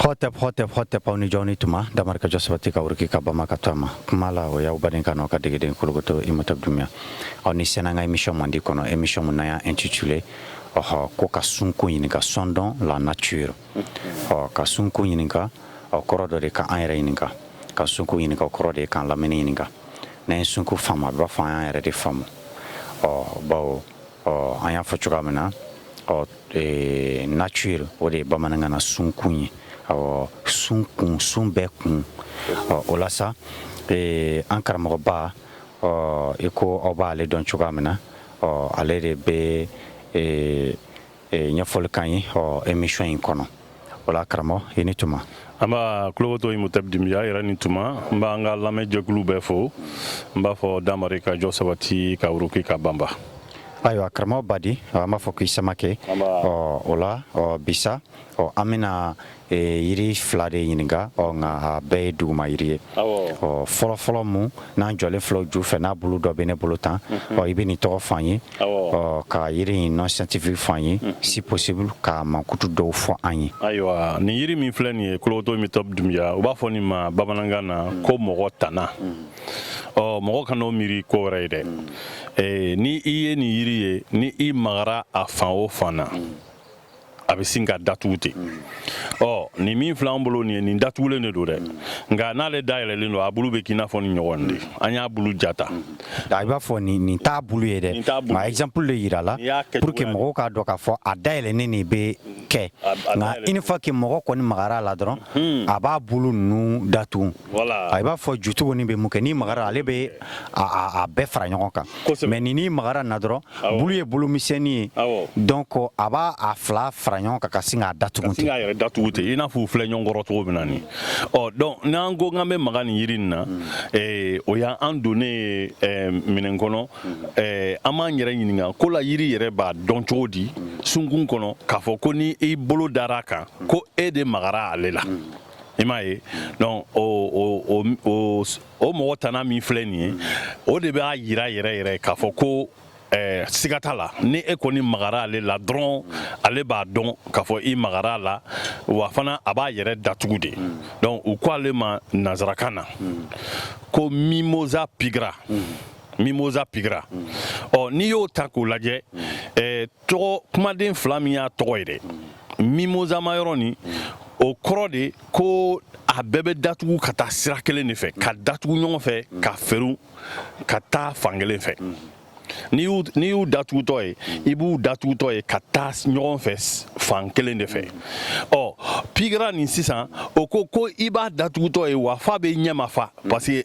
Hotep hotep hotep aw ni jɔnni tuma damari ka jɔ sabati ka wuruki ka banba ka taama kuma la o y'aw baden kan ka degeden kolokoto Imhotep Doumbia aw ni sɛnɛ an ka émission mandi kɔnɔ émission min n'an y'a intitulé ɔɔ ko ka sunkun ɲininka sondons la nature ɔ ka sunkun ɲininka a kɔrɔ dɔ de ka an yɛrɛ ɲininka ka sunkun ɲininka kɔrɔ de ka an lamini ɲininka n'an ye sunkun faamu a b'a fɔ an y'an yɛrɛ de faamu ɔ baw ɔ an y'a fɔ cogoya min na ɔ e, nature o de ye bamanankan na sunkun ye ɔ sun kun sun bɛɛ kun ɔ o la sa e, an karamɔgɔba ɔ i ko aw b'ale dɔn cogoya min na ɔ ale de bɛ e, ɲɛfɔli k'an ye ɔ émission in kɔnɔ o la karamɔgɔ i ni tuma nba kolokoto Imhotep Doumbia yɛrɛ ni tuma n b'an ka lamɛnjɛkulu bɛɛ fo n b'a fɔ damari ka jɔ sabati ka wuruki ka banba ayiwa karamɔgɔ badi an b'a fɔ k'i samakɛ ɔ o la ɔ bi sa ɔ an bɛna yiri fila de ɲininka ɔ nka a bɛɛ ye duguma yiri ye ɔ fɔlɔfɔlɔ min n'an jɔlen filɛ ju fɛ n'a bulu dɔ bɛ ne bolo tan mhm. ɔ i bɛ nin tɔgɔ fɔ an ye ɔ ka yiri in nom scientifique fɔ an ye mhm. si possible k'a mankutu dɔw fɔ an ye ayiwa nin yiri min filɛ nin ye kolokoto Imhotep Doumbia u b'a fɔ nin ma bamanankan na mhm. ko mɔgɔ tana ɔ mɔgɔ kan'o miiri ko wɛrɛ ye dɛ ni i ye nin yiri ye ni i magara a fan o fan na a bɛ sin k'a datugu ten ɔ nin min filɛ n bolo nin ye nin datugulen de don dɛ nka n'ale dayɛlɛlen don a bulu bɛ k'i n'a fɔ nin ɲɔgɔn de an y'a bulu jata i b'a fɔ nin nin t'a bulu ye dɛ nka exemple de yira la pour que mɔgɔw k'a dɔn k'a fɔ a dayɛlɛlen de bɛ kɛ nka une fois que mɔgɔ kɔni magara a la dɔrɔn hmm. a b'a bulu ninnu datugu i b'a fɔ jutugunin bɛ mun kɛ n'i magara ale bɛ a bɛɛ fara ɲɔgɔn kan mais n'i magara na dɔrɔn bulu ye bulu misɛnnin ye donc a b'a a fila fara ɲɔgɔn kan ka sin k'a datugu datugu ten i n'a fɔ u filɛ ɲɔgɔn kɔrɔ cogo min na nin ɔ donc n'an ko k'an bɛ maga nin yiri nin na mm. o y'an donnen ye minɛn kɔnɔ mm. an b'an yɛrɛ ɲininka ko la yiri yɛrɛ b'a dɔn cogo di mm. sunkun kɔnɔ k'a fɔ ko ni i bolo dara a kan ko e de magara ale la i m'a ye donc o mɔgɔ tana min filɛ nin ye o de b'a yira yɛrɛ yɛrɛ k'a fɔ ko eh, siga t'a la ni e kɔni magara ale la dɔrɔn ale b'a dɔn k'a fɔ i magara a la wa fana a b'a yɛrɛ datugu de donc u ko ale ma nanzarakan na ko mimosa pigra mimosa pigra ɔ n'i y'o ta k'o lajɛ eh, tɔgɔ kumaden fila min y'a tɔgɔ ye dɛ mimosama yɔrɔ nin o kɔrɔ de ko a bɛɛ bɛ datugu ka taa sira kelen de fɛ ka datugu ɲɔgɔn fɛ ka fɛru ka taa fan kelen fɛ n'i y'u datugutɔ ye i b'u datugutɔ ye ka taa ɲɔgɔn fɛ fan kelen de fɛ ɔ pigira nin sisan o ko ko i b'a datugutɔ ye wa fa bɛ ɲɛma fa parce que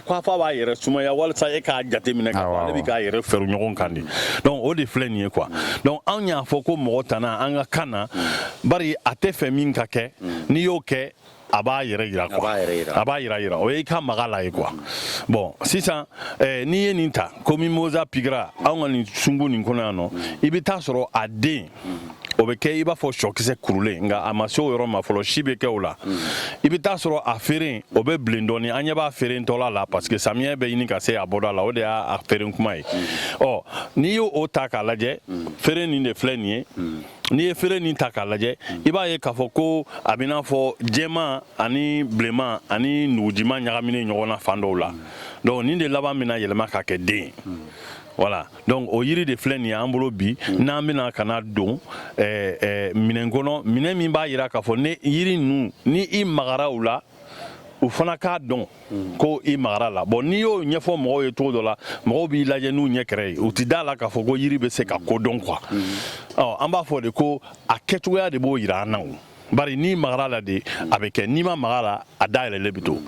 Fɔ a b'a yɛrɛ sumaya walasa e k'a jateminɛ ale bɛ k'a yɛrɛ fɛru ɲɔgɔn kan di donc o de filɛ nin ye quoi donc anw y'a fɔ ko mɔgɔ tana an ka kan na bari a tɛ fɛ min ka kɛ n'i y'o kɛ a b'a yɛrɛ yira quoi a b'a yira yira o ye i ka maga la ye quoi bon sisan n'i ye nin ta ko mimosa pigira anw ka nin sungu nin kɔnɔ yan nɔ i bɛ taa a sɔrɔ a den o bɛ kɛ i b'a fɔ sɔkisɛ kurulen nka a ma se o yɔrɔ ma fɔlɔ si bɛ kɛ o la i bɛ taa sɔrɔ a feere o bɛ bilen dɔɔni an ɲɛ b'a feere tɔla la parce que samiyɛ bɛ ɲini ka se a bɔda la o de y'a feere kuma ye ɔ n'i y'o ta k'a lajɛ feere nin de filɛ nin ye n'i ye feere nin ta k'a lajɛ i b'a ye k'a fɔ ko a bɛ i n'a fɔ jɛman ani bilenman ani nugujiman ɲagaminen ɲɔgɔn na fan dɔw la donc nin de laban bɛna yɛlɛma ka kɛ den ye voilà donc o yiri de filɛ nin ye an bolo bi mm. n'an bɛna ka na don eh, eh, minɛn kɔnɔ minɛn min b'a yira k'a fɔ ni yiri ninnu ni i magara u la u fana k'a dɔn mm. ko i magara la bon n'i y'o ɲɛfɔ mɔgɔw ye cogo dɔ la mɔgɔw b'i lajɛ n'u ɲɛ kɛrɛ ye u ti d'a la k'a fɔ ko yiri bɛ se ka ko dɔn quoi mm. an b'a fɔ de ko a kɛcogoya de b'o yira an na o bari n'i magara la de a bɛ kɛ n'i ma maga la a dayɛlɛlen bɛ to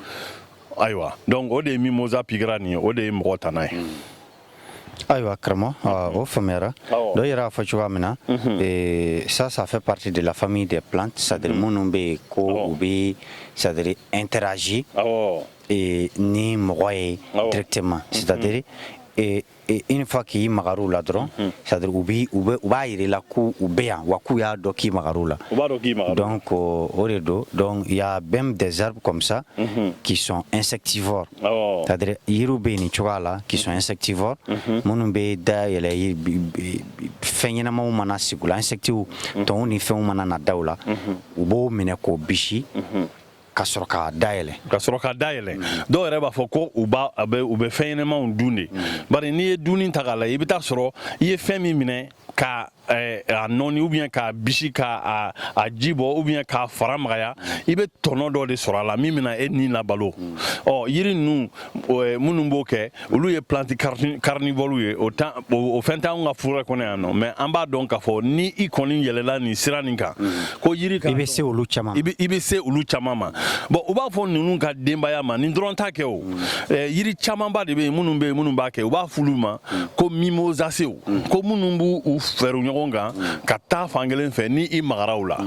ayiwa donc o de ye mimosa pigira nin ye o de ye mɔgɔ tana ye Ayiwa karamɔgɔ ɔɔ o faamuyara awɔ dɔ yɛrɛ y'a fɔ cogoya min na unhun ee ça ça fait partie de la famille des plantes c'est à dire minnu bɛ yen ko u bɛ c'est à dire interagit awɔɔ ee ni mɔgɔ ye awɔ directement c'est à dire ee une fois k'i magar'u la dɔrɔn c'est à dire u b'i u bɛ u b'a jira i la ko u bɛ yan wa k'u y'a dɔn k'i magar'u la u b'a dɔn k'i magar'u la donc o de don donc il y a même des arbres comme ça qui sont insectivores C'est à dire yiriw bɛ yen nin cogoya la qui sont insectivores minnu bɛ da yɛlɛ fɛn ɲɛnamaw mana sigi u la insectiw tɔnw ni fɛnw mana na da u la u b'o minɛ k'o bisi ka sɔrɔ ka da yɛlɛ ka sɔrɔ ka da yɛlɛ dɔw yɛrɛ b'a fɔ ko u bɛ fɛn ɲɛnamaw dun de bari n'i ye dunni ta k'a lajɛ i bɛ taa sɔrɔ i ye fɛn min minɛ ka eh, a nɔɔni ou bien k'a bisi k'a a ji bɔ ou bien k'a fara magaya i bɛ tɔnɔ dɔ de sɔrɔ a la min bɛna e ni labalo ɔ yiri ninnu eh, minnu b'o kɛ olu ye plante carnivore ye o tan o fɛn t'anw ka forêt kɔnɔ yan nɔ mais an b'a dɔn k'a fɔ ni i kɔni yɛlɛla nin sira nin kan ko yiri ka i bɛ se olu caman i bɛ se olu caman ma bon u b'a fɔ ninnu ka denbaya ma nin dɔrɔn t'a kɛ o eh, yiri camanba de bɛ yen minnu bɛ yen minnu b'a kɛ u b'a f'olu ma ko mimosasew ko minnu b'u fɛrɛ ɲɔgɔn kan ka taa fan kelen fɛ ni i magara u la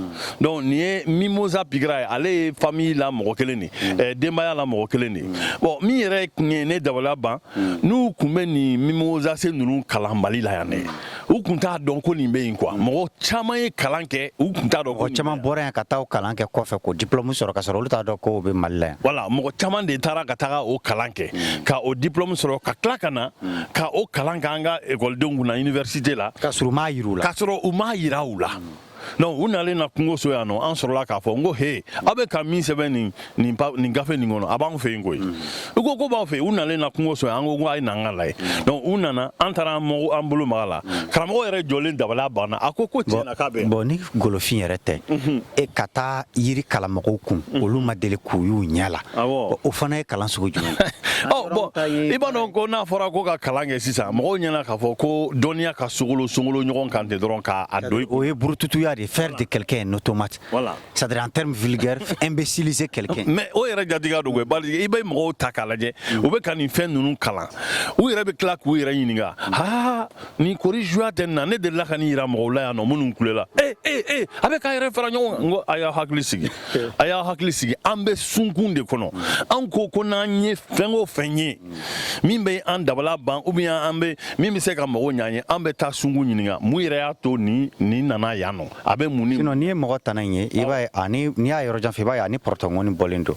donc nin ye mimosa pigira ye ale ye famille la mɔgɔ kelen de eh, denbaya la mɔgɔ kelen de bon min yɛrɛ tun ye ne dabaliya ban n'u tun bɛ nin mimosase ninnu kalan mali la yan dɛ u tun t'a dɔn ko nin bɛ yen quoi mɔgɔ caman ye kalan kɛ u tun t'a dɔn ko caman bɔra yan ka taa o kalan kɛ kɔfɛ k'o diplôme sɔrɔ ka sɔrɔ olu t'a dɔn ko o bɛ mali la yan voilà mɔgɔ caman de taara ka taga o kalan kɛ mm. ka o diplôme sɔrɔ ka tila ka na mm. ka o kalan k'an ka ekɔlidenw kunna université la k'a sɔrɔ u m'a yira u la k'a sɔrɔ u m'a yira u la mm. donc u nalen na kungo so yan nɔ an sɔrɔla k'a fɔ n ko he aw bɛ ka min sɛbɛn nin nin nin gafe nin kɔnɔ a b'anw fɛ yen koyi u ko ko b'aw fɛ yen u nalen na kungo so yan an ko ko a ye na an k'a lajɛ donc u nana an taara an mɔgɔ an bolo mag'a la karamɔgɔ yɛrɛ jɔlen dabaliya banna a ko ko tiɲɛ na k'a bɛ bon ni golofin yɛrɛ tɛ e ka taa yiri kalan mɔgɔw kun olu ma deli k'u y'u ɲɛ la o fana ye kalan sugu jumɛn ye i b'a dɔn ko n'a fɔra ko ka kalan kɛ sisan mɔgɔw ɲɛ na k'a fɔ ko dɔnniya ka so sogolon ɲɔgɔn kan ten dɔrɔn k'a don o ye burututuya de faire de quelqu'un un automate c'est à dire en termes vulgaires imbéciliser quelqu'un mais o yɛrɛ jatigiya don bari i bɛ mɔgɔw ta k'a lajɛ u bɛ ka nin fɛn ninnu kalan u yɛrɛ bɛ tila k'u yɛrɛ ɲininka aa nin kori juya tɛ na ne de la ka nin jira mɔgɔw la yan nɔ minnu kulela a bɛ k'a yɛrɛ fara ɲɔgɔn kan a y'a hakili sigi a y'a hakili sigi an bɛ sunkun de kɔnɔ an ko ko n'an ye fɛn o fɛn ye min bɛ an dabala ban ou bien min bɛ se ka mago ɲan ye an bɛ taa sunkun ɲininka mun yɛrɛ y'a to nin nin nana yan nɔ a bɛ mun n'i ye mɔgɔ tana ye i b'a ye n'i y'a yɔrɔ jan fɛ i b'a ye ani pɔrɔtɔngɔni bɔlen don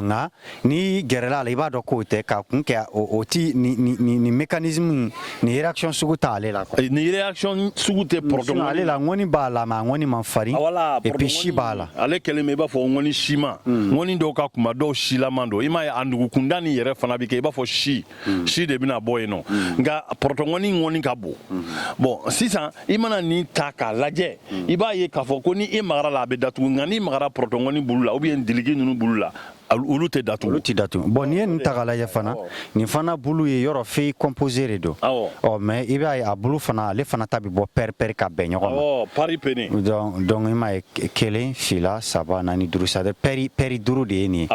nka N'i gɛrɛla a la i b'a dɔn k'o tɛ ka kun kɛ o tɛ nin mécanisme nin réaction sugu tɛ ale la quoi nin réaction sugu tɛ pɔrɔtɔ ŋɔni ale la ŋɔni b'a la mais a ŋɔni man farin voilà et puis si b'a la ale kɛlen bɛ i b'a fɔ ŋɔni siman ŋɔni dɔw ka kunba dɔw silaman don i m'a ye a nugukunda nin yɛrɛ fana bɛ kɛ i b'a fɔ si mm. si de bɛna bɔ yen nɔ mm. nka pɔrɔtɔngɔni ŋɔni ka bon mm. bon sisan i mana nin ta k'a lajɛ mm. i b'a ye k'a fɔ ko ni i magara la a bɛ datugu nka n'i magara pɔrɔtɔngɔni bulu la ou bien diliki ninnu bulu la olu tɛ datugu olu tɛ datugu bon n'i ye nin ta k'a lajɛ fana nin fana bulu ye yɔrɔ feuille composée de don ɔ mais i b'a ye a bulu fana ale fana ta bɛ bɔ paire paire ka bɛn ɲɔgɔn ma paripennée donc donc i m'a ye kelen fila saba naani duuru c'est à dire paire paire duuru de ye nin ye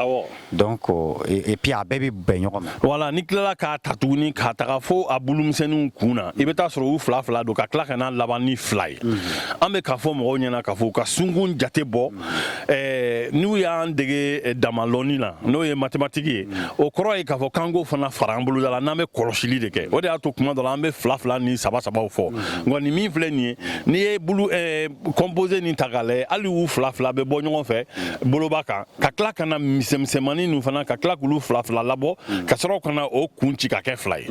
donc et puis a bɛɛ bɛ bɛn ɲɔgɔn ma voilà n'i tilala k'a ta tuguni ka taga fo a bulumisɛnninw kun na i bɛ taa sɔrɔ u fila fila don ka tila ka n'a laban ni fila ye an bɛ k'a fɔ mɔgɔw ɲɛ na k'a fɔ u ka sunkun jate bɔ n'u y'an dege damalɔni na n'o ye mathématique ye o kɔrɔ ye k'a fɔ k'an k'o fana fara an boloda la n'an bɛ kɔlɔsili de kɛ o de y'a to kuma dɔ la an bɛ fila fila ni saba sabaw fɔ nka nin min filɛ nin ye n'i ye composé nin ta k'a lajɛ hali u fila fila bɛ bɔ ɲɔgɔn fɛ boloba kan ka tila ka na misɛnmisɛnmani ninnu fana ka tila k'olu fila fila labɔ mm. ka sɔrɔ ka na o kun ci ka kɛ fila ye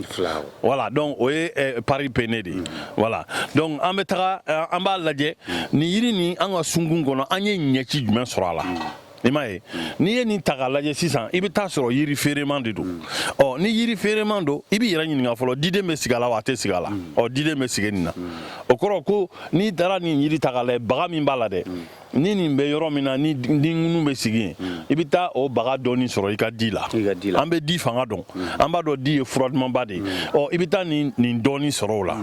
voilà donc o ye eh, paripenné de ye voilà mm. donc an bɛ taga eh, an b'a lajɛ mm. nin yiri nin an ka sunkun kɔnɔ an ye ɲɛci jumɛn sɔrɔ a la i m'a ye n'i ye nin ta k'a lajɛ sisan i bɛ t'a sɔrɔ yiri feereman de don ɔ ni yiri feereman don i b'i yɛrɛ ɲininka fɔlɔ diden bɛ sigi a la wa a tɛ sigi a la ɔ diden bɛ sigi nin na o kɔrɔ ko n'i taara nin yiri ta k'a lajɛ baga min b'a la dɛ ni nin bɛ yɔrɔ min na ni di ŋunu bɛ sigi yen hmm. i bɛ taa o baga dɔɔni sɔrɔ i ka di la an bɛ di fanga dɔn hmm. an b'a dɔn di ye fura dumanba de ye hmm. ɔ i bɛ taa nin nin dɔɔni sɔrɔ o la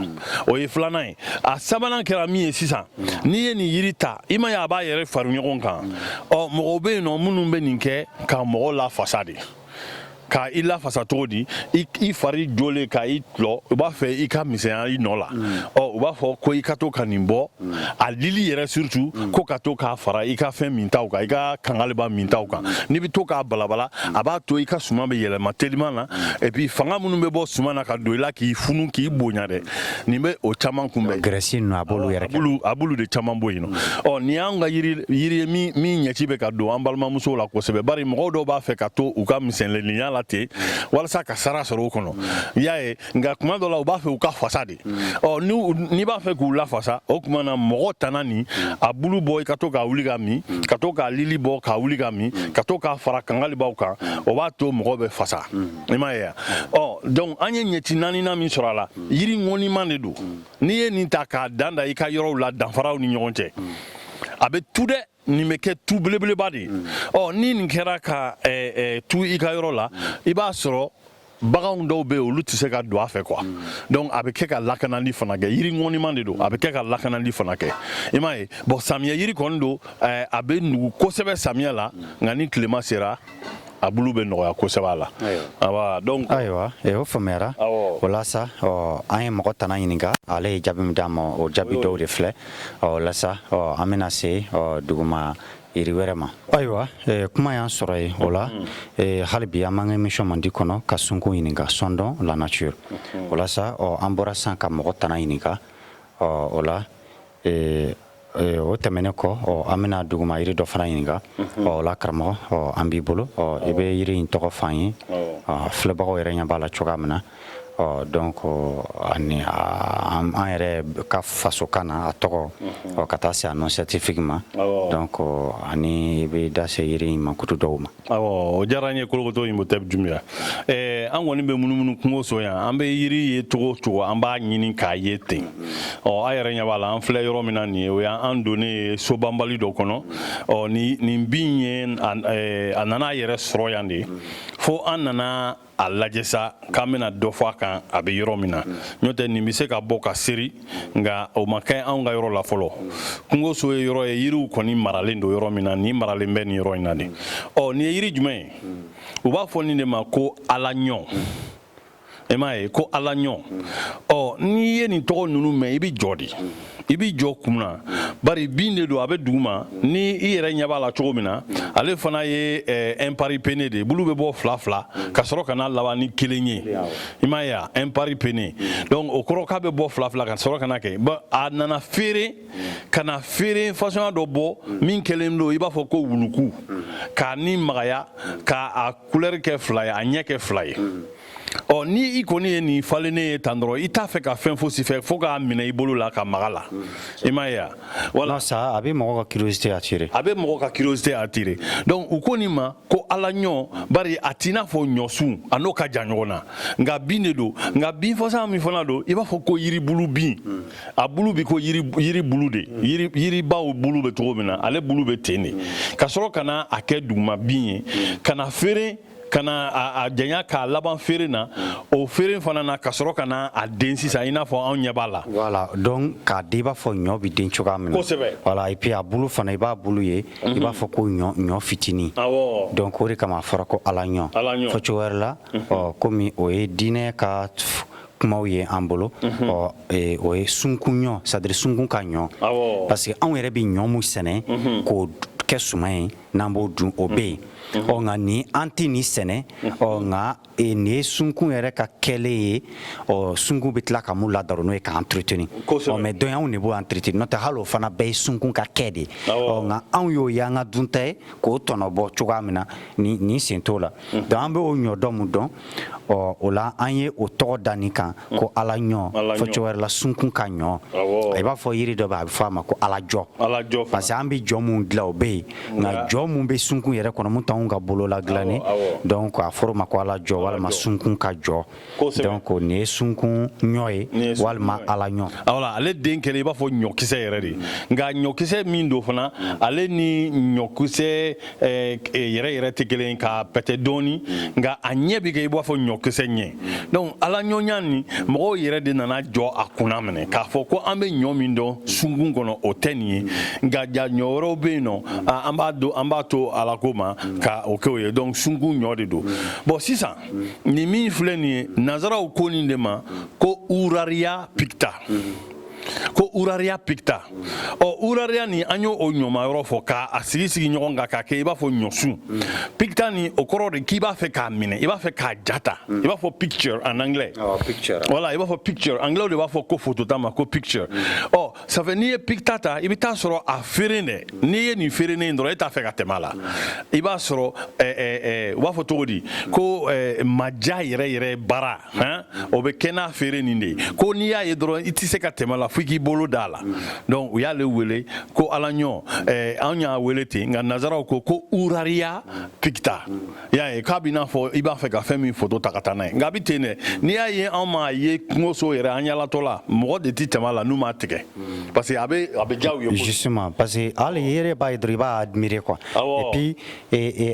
o ye filanan ye a sabanan kɛra min ye sisan n'i ye nin yiri ta i m'a ye a b'a yɛrɛ fara ɲɔgɔn kan ɔ mɔgɔw bɛ yen nɔ minnu bɛ nin kɛ ka mɔgɔ lafasa de ka i lafasa cogo di i fari jolen ka i tlɔ u b'a fɛ i ka misɛnya i nɔ la mm. ɔ u b'a fɔ ko i ka to ka nin bɔ mm. a lili yɛrɛ surtout mm. ko ka to k'a fara i ka fɛn mintaw kan i ka kangaliba mintaw kan n'i bɛ to k'a balabala a b'a to i ka suman bɛ yɛlɛma teliman na et puis fanga minnu bɛ bɔ suman na ka don i la k'i funu k'i bonya dɛ nin bɛ o caman kunbɛn graisse ninnu a b'olu yɛrɛ kɛ a b'olu de caman bɔ yen nɔ mm. ɔ nin y'an ka yiri yiri ye min min ɲɛci bɛ ka don an balimamusow la kosɛbɛ bari mɔgɔw dɔw b'a fɛ ka to u ka misɛnleniya la ten mm. walasa ka sara sɔrɔ o kɔnɔ mm. y'a ye nka kuma dɔ la u b'a fɛ u ka fasa de ɔ n'i b'a fɛ k'u lafasa o tuma na mɔgɔ tana nin a bulu bɔ i ka to k'a wuli k'a min ka to k'a lili bɔ k'a wuli k'a min ka to k'a fara kangalibaw kan o b'a to mɔgɔ bɛ fasa i m'a ye ɔ donc an ye ɲɛci naaninan min sɔrɔ a la yiri ŋɔniman de don n'i ye nin ta k'a dan da i ka yɔrɔw la danfaraw ni ɲɔgɔn cɛ a bɛ tu dɛ nin bɛ kɛ tu belebeleba de ye ɔ ni nin kɛra ka tu i ka yɔrɔ la i b'a sɔrɔ baganw dɔw bɛ olu tɛ se ka don a fɛ quoi donc a bɛ kɛ ka lakanali fana kɛ yiri ŋɔniman de don a bɛ kɛ ka lakanali fana kɛ i m'a ye bon samiyɛ yiri kɔni don a bɛ nugu kosɛbɛ samiyɛ la nka ni tilema sera a bulu bɛ nɔgɔya kosɛbɛ a la ayiwa donc ayiwa eh, o faamuyara o la sa an ye mɔgɔ tana ɲininka ale ye jaabi min d'an ma o jaabi dɔw de filɛ o la sa an bɛna se duguma yiri wɛrɛ ma ayiwa eh, kuma y'an sɔrɔ yen o la mm. eh, hali bi an b'an ka émission mandi kɔnɔ ka sunkun ɲininka sondons la nature mm-hmm. o la sa an bɔra san ka mɔgɔ tana ɲininka o la o tɛmɛnen kɔ an bɛna duguma yiri dɔ fana ɲininka o la karamɔgɔ ɔ an b'i bolo ɔ i bɛ yiri in tɔgɔ f'an ye filɛbagaw yɛrɛ ɲɛ b'a la cogoya min na ɔ donc ani an yɛrɛ ka fasokan na a tɔgɔ ɔ ka taa se a nom scientifique ma donc ani i bɛ da se yiri in mankutu dɔw ma awɔ o diyara n ye kolokoto imhotep dunbiya an kɔni bɛ munumunu kungo so yan an bɛ yiri ye cogo cogo an b'a ɲini k'a ye ten ɔ a yɛrɛ ɲɛ b'a la an filɛ yɔrɔ min na nin ye o y'an donnen ye sobanbali dɔ kɔnɔ ɔ nin bin ye a nana a yɛrɛ sɔrɔ yan de fo an nana a lajɛ sa k'an bɛna dɔ fɔ a kan a bɛ yɔrɔ min na n'o tɛ nin bɛ se ka bɔ ka seri nka o ma kɛ anw ka yɔrɔ la fɔlɔ kungoso ye yɔrɔ ye yiriw kɔni maralen don yɔrɔ min na nin maralen bɛ nin yɔrɔ in na de ɔ nin ye yiri jumɛn ye u b'a fɔ nin de ma ko alaɲɔ i m'a ye ko alaɲɔ ɔ n'i ye nin tɔgɔ ninnu mɛn i bɛ jɔ de i b'i jɔ kun na bari bin de don a bɛ duguma ni i yɛrɛ ɲɛ b'a la cogo min na ale fana ye imparipenné de ye bulu bɛ bɔ fila fila ka sɔrɔ ka na laban ni kelen ye i m'a ye a imparipenné donc o kɔrɔ k'a bɛ bɔ fila fila ka sɔrɔ ka na kɛ a nana feere ka na feere fasɔnya dɔ bɔ min kɛlen don i b'a fɔ ko wuluku k'a ni magaya k'a a couleur kɛ fila ye a ɲɛ kɛ fila ye ɔ ni i kɔni ye nin falennen ye tan dɔrɔn i t'a fɛ ka fɛn fosi fɛ fo k'a minɛ i bolo la ka maga la i m'a ye a voilà sa a bɛ mɔgɔ ka curiosité attirer a bɛ mɔgɔ ka curiosité attirer donc u ko nin ma ko ala ɲɔ bari a t'i n'a fɔ ɲɔsun a n'o ka jan ɲɔgɔn na nka bin de don nka bin fasɔn min fana don i b'a fɔ ko yiribulu bin a bulu b'i ko yiri yiri bulu de yiri yiribaw bulu bɛ cogo min na ale bulu bɛ ten de ka sɔrɔ ka na a kɛ duguma bin ye ka na feere ka na a janya k'a laban feere na o feere fana na ka sɔrɔ ka na a den sisan i n'a fɔ anw ɲɛ b'a la voilà donc k'a den i b'a fɔ ɲɔ bɛ den cogoya min na kosɛbɛ voilà et puis a bulu fana i b'a bulu ye i mhm. b'a fɔ ko ɲɔ ɲɔ fitinin awɔ donc o de kama a fɔra ko ala ɲɔ ala ɲɔ fɔ cogo wɛrɛ la mhm. ɔ komi o ye diinɛ ka kumaw ye an bolo mhm. ɔ e, o ye sunkun ɲɔ c'est à dire sunkun ka ɲɔ parce que anw yɛrɛ bɛ ɲɔ mun sɛnɛ k'o kɛ suman ye n'an b'o dun o bɛ yen ɔ nka nin an tɛ nin sɛnɛ ɔ nka e, nin ye sunkun yɛrɛ ka kɛlen ye ɔ sunkun bɛ tila ka mun ladaro n'o ye ka entretenir ɔ mais donc anw de b'o entretenir n'o tɛ hali o fana bɛɛ ye sunkun ka kɛ de ye ɔ nka anw y'o y'an ka dunta ye k'o tɔnɔbɔ cogoya min na nin sen t'o la donc an b'o ɲɔ dɔn mun dɔn ɔ o la an ye o tɔgɔ da nin kan mm. ko ala ɲɔ fɔ cogo wɛrɛ la sunkun ka ɲɔ i b'a fɔ yiri dɔ bɛ a bɛ fɔ a ma ko ala jɔ parce que an bɛ jɔ mun dilan o bɛ yen nka jɔ mun bɛ sunkun yɛrɛ kɔnɔ mun t'anw ka bolo la dilannen donc a fɔra o ma ko ala jɔ walima sunkun ka jɔ donc nin ye sunkun ɲɔ ye walima ala ɲɔ voilà ale den kɛlen i b'a fɔ ɲɔkisɛ yɛrɛ de nka ɲɔkisɛ min don fana mm. ale ni ɲɔkisɛ Eh, yɛrɛ yɛrɛ tɛ kelen ka pɛtɛ dɔɔni nka a ɲɛ bɛ kɛ i b'a fɔ ɲɔkisɛ ɲɛ donc ala ɲɔnya nin mɔgɔw yɛrɛ de nana jɔ a kunna minɛ k'a fɔ ko an bɛ ɲɔ min dɔn sunkun kɔnɔ o tɛ nin ye nka ja ɲɔ wɛrɛw bɛ yen nɔ an b'a don an b'a to ala ko ma ka o kɛ o ye donc sunkun ɲɔ de don bon sisan nin min filɛ nin ye nazaraw ko nin de ma ko uraria picta ko uraria picta ɔ uraria nin an y'o o ɲɔma yɔrɔ fɔ k'a sigi sigi ɲɔgɔn kan k'a kɛ i b'a fɔ ɲɔsun picta nin o kɔrɔ de k'i b'a fɛ k'a minɛ i b'a fɛ k'a jata i b'a fɔ picture en anglais voilà i b'a fɔ picture anglais de b'a fɔ ko foto ta ma ko picture ɔ ça fait n'i ye picta ta i bɛ t'a sɔrɔ a feeren de n'i ye nin feeren ye dɔrɔn e t'a fɛ ka tɛmɛ a la i b'a sɔrɔ u b'a fɔ cogo di ko maja yɛrɛ yɛrɛ baara hɛn o bɛ kɛ n'a feere nin de ye ko n'i y'a ye dɔrɔn i tɛ se ka tɛmɛ a la fo i k'i bolo d'a la donc u y'ale wele ko ala ɲɔ eh, anw y'a wele ten nka nazaraw ko ko uraria picta i y'a ye k'a b'i n'a fɔ i b'a fɛ ka fɛn min foto ta ka taa n'a ye nka a bɛ ten dɛ n'i y'a ye anw m'a ye kungoso yɛrɛ an yaalatɔ la mɔgɔ de tɛ tɛmɛ a la n'u m'a tigɛ parce que a bɛ a bɛ diya u ye justement parce que hali i yɛrɛ b'a ye dɔrɔn i b'a admirer quoi et puis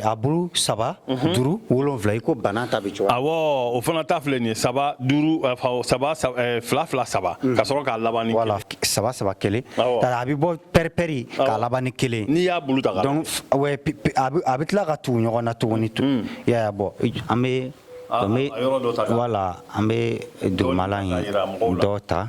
a bulu saba mhm. duuru wolonfila i ko bana ta bɛ cogo awɔ o fana ta filɛ nin ye saba duuru eh, saba eh, fila fila saba mhm. ka sɔrɔ k'a laban ni kelen saba saba kelen a bɛ bɔ pɛripɛri k'a laban ni kelen n'i y'a bulu ta donc a bɛ tila ka tugu ɲɔgɔn na tuguni tun mm. y'a bɔ an bɛ ah, ah, voilà an bɛ dugumala in dɔ ta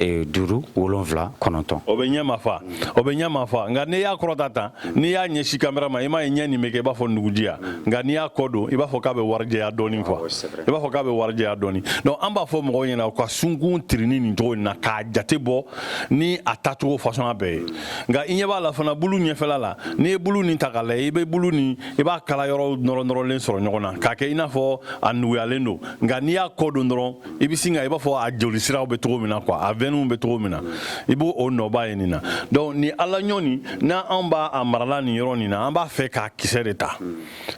Eh, duuru wolonfila kɔnɔntɔn o bɛ ɲɛ mafa o bɛ ɲɛ mafa nka n'i y'a kɔrɔta tan n'i y'a ɲɛsi kamera ma i m'a ye ɲɛ nin bɛ kɛ i b'a fɔ nugujiya nka n'i y'a kɔ don i b'a fɔ k'a bɛ warijɛya dɔɔni quoi i b'a fɔ k'a bɛ warijɛya dɔɔni donc an b'a fɔ mɔgɔw ɲɛna u ka sunkun tirinni nin cogo in na k'a jate bɔ ni a tacogo fasɔnya bɛɛ ye nka i ɲɛ b'a la fana bulu ɲɛfɛla la n'i ye bulu nin ta k'a lajɛ i bɛ bulu nin i b'a kala yɔrɔ nɔrɔnɔrɔlen sɔrɔ ɲɔgɔn na k'a kɛ i n'a fɔ a nuguyalen don nka n'i y'a kɔ don dɔrɔn i bɛ sin ka i b'a fɔ a jolisiraw bɛ cogo min na quoi a vɛninw bɛ cogo min na i b'o nɔba ye nin na donc ni ala ɲɔ nin n'an anw b'a a marala nin yɔrɔ nin na an b'a fɛ k'a kisɛ de ta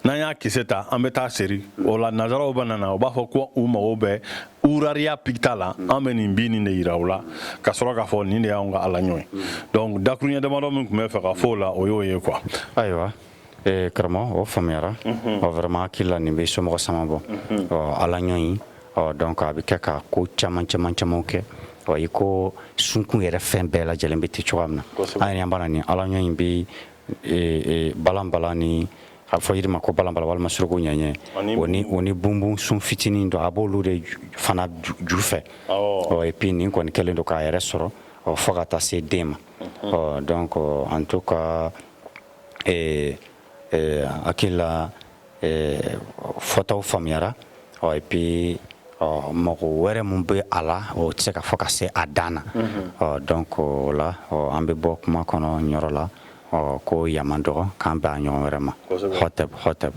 n'an y'a kisɛ ta an bɛ t'a seri o la nazaraw mana na u b'a fɔ ko u mago bɛ uraria picta la an bɛ nin bin nin de yira u la ka sɔrɔ k'a fɔ nin de y'anw ka ala ɲɔ ye donc dakuruɲɛ damadɔ min tun bɛ fɛ ka fɔ o la o y'o ye quoi ayiwa ee karamɔgɔ o faamuyara mhm. ɔ vraiment n hakili la nin bɛ somɔgɔ sama bɔ mhm. ɔ ala ɲɔ in ɔ donc a bɛ kɛ ka ko caman caman camanw kɛ ɔ i ko sunkun yɛrɛ fɛn bɛɛ lajɛlen bɛ ten cogoya min na an yɛrɛ an b'a la nin ala ɲɔ in bɛ balanbalan ni a fɔ yiri ma ko balanbalan walima suruku ɲɛɲɛ o ni o ni bunbun sun fitinin dɔ a b'olu de fana ju fɛ ɔ et puis nin kɔni kɛlen don k'a yɛrɛ sɔrɔ ɔ fo ka taa se den ma mhm. ɔ donc en tout cas ee ee hakilila ee fɔtaw faamuyara ɔ et puis ɔ mago wɛrɛ min bɛ a la o tɛ se ka fɔ ka se a dan na ɔ donc o la ɔ an bɛ bɔ kuma kɔnɔ nin yɔrɔ la ɔ ko yaman dɔgɔ k'an bɛn a ɲɔgɔn wɛrɛ ma hɔtɛb hɔtɛb